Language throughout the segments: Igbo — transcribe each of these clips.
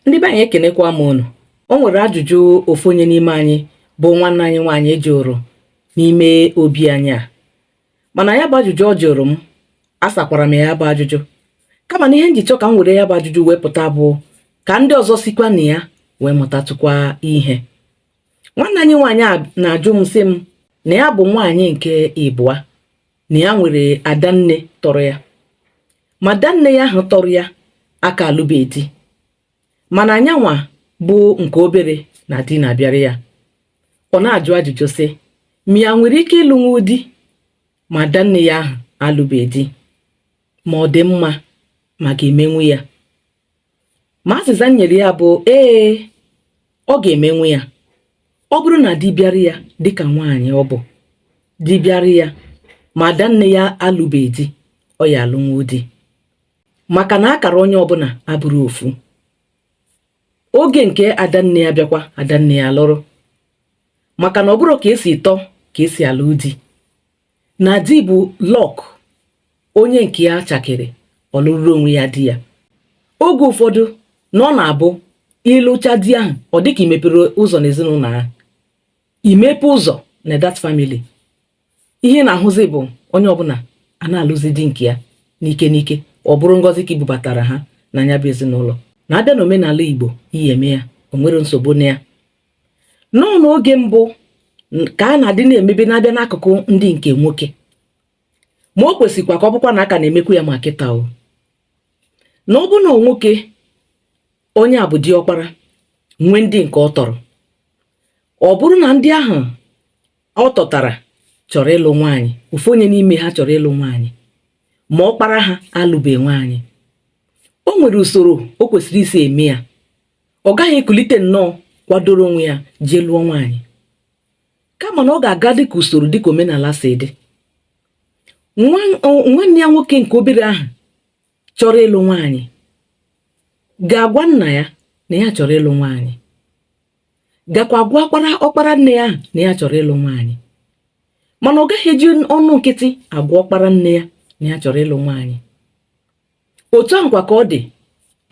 ndị be anyị ekenekwa m unu o nwere ajụjụ ofu onye n'ime anyị bụ nwanne anyị nwaanyị jụrụ n'ime obi anyị a mana ya bụ ajụjụ ọ jụrụ m asakwara m ya bụ ajụjụ kama na ihe m ji chọọ ka m were ya bụ ajụjụ wee pụta bụ ka ndị ọzọ sikwa na ya wee mụtatụkwa ihe nwanne anyị nwaanyị a na-ajụ m sị m na ya bụ nwaanyị nke ịbụa na ya nwere adanne tọrọ ya ma adanne ya ahụ tọrọ ya aka alụbeghị di mana ya nwa bụ nke obere na di na-abịara ya ọ na-ajụ ajụjụ sị ma ya nwere ike ịlụnwu di ma adanne ya ahụ alụbeghị di ma ọ dị mma ma ọ ga-emenwu ya ma azịza m nyere ya bụ ee ọ ga-emenwu ya ọ bụrụ na di bịara ya dịka nwaanyị ọ bụ di bịara ya ma adanne ya alụbeghị di ọ ya alụnwu di maka na akara onye ọbụla abụrọ ofu oge nke adanne ya bịakwa adanne ya alụrụ maka na ọ bụrọ ka e si tọọ ka e si alụ di na di bụ luck onye nke ya chakere ọ lụrụ onwe ya di ya oge ụfọdụ na ọ na-abụ ị lụcha di ahụ ọ dịka i mepere ụzọ n'ezinụlọ ahụ imepe ụzọ na that family ihe na-ahụzi bụ onye ọbụla a na-alụzi di nke ya n'ike n'ike ọ bụrụ ngọzi ka i bubatara ha na ya bụ ezinụlọ na-abịa na omenala igbo ị ya eme ya o nwere nsogbu na ya nọọ n'oge mbụ ka a na-adị na-emebe na-abịa n'akụkụ ndị nke nwoke ma o kwesịkwa ka ọ bụkwa na a ka na-emekwu ya ma kịta o na ọ bụ na nwoke onye a bụ diọkpara nwee ndị nke ọ tọrọ ọ bụrụ na ndị ahụ ọ tọtara chọrọ ịlụ nwaanyị ofu onye n'ime ha chọrọ ịlụ nwaanyị ma ọkpara ha alụbe nwaanyị o nwere usoro o kwesịrị isi eme ya ọ gaghị ekulite nnọọ kwadoro onwe ya jee lụọ nwaanyị kama na ọ ga-aga dịka usoro dịka omenala si dị nwanne ya nwoke nke obere ahụ chọrọ ịlụ nwaanyị ga-agwa nna ya na ya chọrọ ịlụ nwaanyị gakwa gwa ọkpara nne ya na ya chọrọ ịlụ nwaanyị mana ọ gaghị eji ọnụ nkịtị agwa ọkpara nne ya na ya chọrọ ịlụ nwaanyị otu ahụkwa ka ọ dị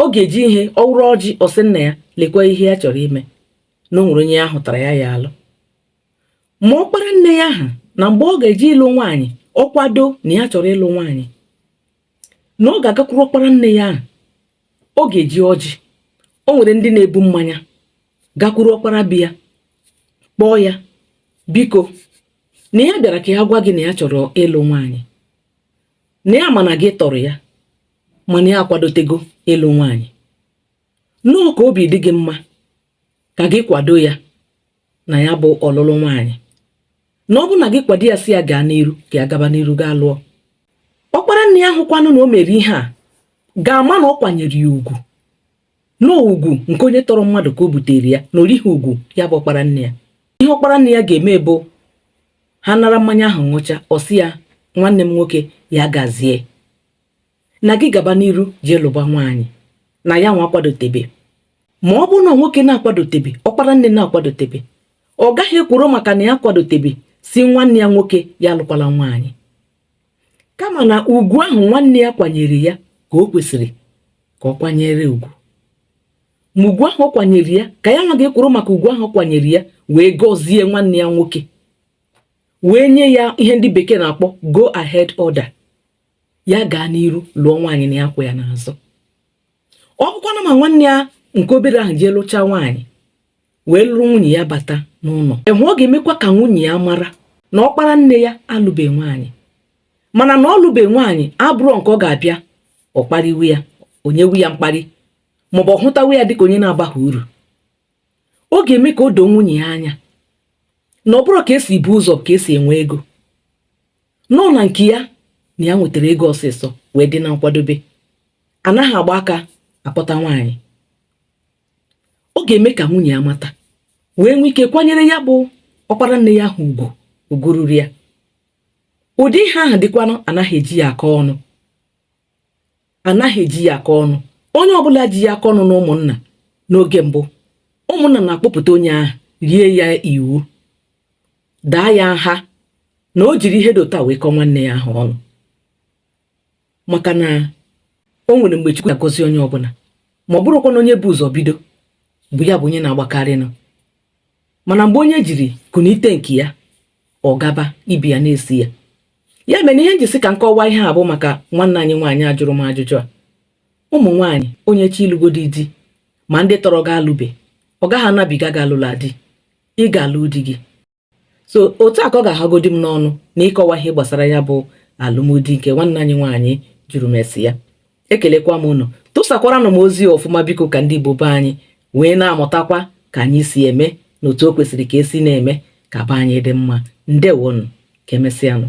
ọ ga-eji ihe ọ wụrụ ọjị ọ sị nna ya lekwa ihe ya chọrọ ime na o nwere onye ya hụtara ya ya alụ ma ọkpara nne ya ahụ na mgbe ọ ga-eji ịlụ nwaanyị ọ kwado na ya chọrọ ịlụ nwaanyị na ọ ga-agakwuru ọkpara nne ya ahụ ọ ga-eji ọjị o nwere ndị na-ebu mmanya gakwuru ọkpara be ya kpọọ ya biko na ya bịara ka ya gwa gị na ya chọrọ ịlụ nwaanyị na ya ma na gị tọrọ ya mana ya akwadotego ịlụ nwaanyị nnọọ ka obi dị gị mma ka gị kwado ya na ya bụ ọlụlụ nwaanyị na ọ bụrụ na gị kwado ya sị ya gaa n'iru ka ya gaba n'iru gaa lụọ ọkpara nne ya hụkwanụ na o mere ihe a ga-ama na ọ kwanyere ya ugwu na ugwu nke onye tọrọ mmadụ ka o butere ya na o righị ugwu ya bụ ọkpara nne ya ihe ọkpara nne ya ga-eme bụ ha nara mmanya ahụ ṅụcha ọ sị ya nwanne m nwoke ya gazie na gị gaba n'iru jee lụba nwaanyị na ya nwa akwadotebe ma ọ bụrụ na nwoke na-akwadotebe ọkpara nne na-akwadotebe ọ gaghị ekworo maka na ya akwadotebe sị nwanne ya nwoke ya alụkwala nwaanyị kama na ugwu ahụ nwanne ya kwanyere ya ka o kwesịrị ka ọ kwanyere ugwu ma ugwu ahụ ọ kwanyere ya ka ya nwa ga-ekworo maka ugwu ahụ ọ kwanyere ya wee gọzie nwanne ya nwoke wee nye ya ihe ndị bekee na-akpọ go ahead order ya gaa n'iru lụọ nwaanyị na ya kwụ ya n'azụ ọ bụkwanụ ma nwanne ya nke obere ahụ jee lụchaa nwaanyị wee lụrụ nwunye ya bata n'ụlọ ahụ ọ ga-emekwa ka nwunye ya mara na ọkpara nne ya alụbe nwaanyị mana na ọ lụbe nwaanyị abụrọ nke ọ ga-abịa ọ kparịwa ya o nyewe ya mkparị maọbụ ọ hụtawa ya dịka onye na-abaghị uru ọ ga-eme ka o doo nwunye ya anya na ọ bụrọ ka esi bu ụzọ ka esi enwe ego nọ na nke ya na ya nwetara ego ọsịsọ wee dị na nkwadobe anaghị agba aka akpọta nwaanyị ọ ga-eme ka nwunye ya mata wee nwee ike kwanyere ya bụ ọkpara nne ya ahụ ugwu ugwu ruru ya ụdị ihe ahụ dịkwanụ anaghị eji ya akọ ọnụ anaghị eji ya akọ ọnụ onye ọbụla ji ya akọ ọnụ na ụmụnna n'oge mbụ ụmụnna na-akpọpụta onye ahụ rie ya iwu daa ya nha na o jiri ihe dị otu a wee kọọ nwanne ya ahụ ọnụ maka na o nwere mgbe Chukwu na-agọzi onye ọbụla ma ọ bụrọkwanụ onye bu ụzọ bido bụ ya bụ onye na-agbakarịnụ mana mgbe onye jiri kunite nke ya ọ gaba ibi ya na-esi ya ya mere ihe m ji sị ka m kọwaa ihe a bụ maka nwanne anyị nwaanyị a jụrụ m ajụjụ a ụmụ nwaanyị onye chọọ ịlụgodi di ma ndị tọrọ gị alụbe ọ gaghị anabiga gị alụla di ị ga-alụ di gị so otu a ka ọ ga-ahagodi m n'ọnụ na ịkọwa ihe gbasara ya bụ alụmdi nke nwanne anyị nwaanyị jụrụ m isi ya ekelekwa m unu tụsakwaranụ m ozi ọfụma biko ka ndị Igbo be anyị wee na-amụtakwa ka anyị si eme na otu o kwesịrị ka esi na-eme ka be anyị dị mma ndewonụ ka emesịanụ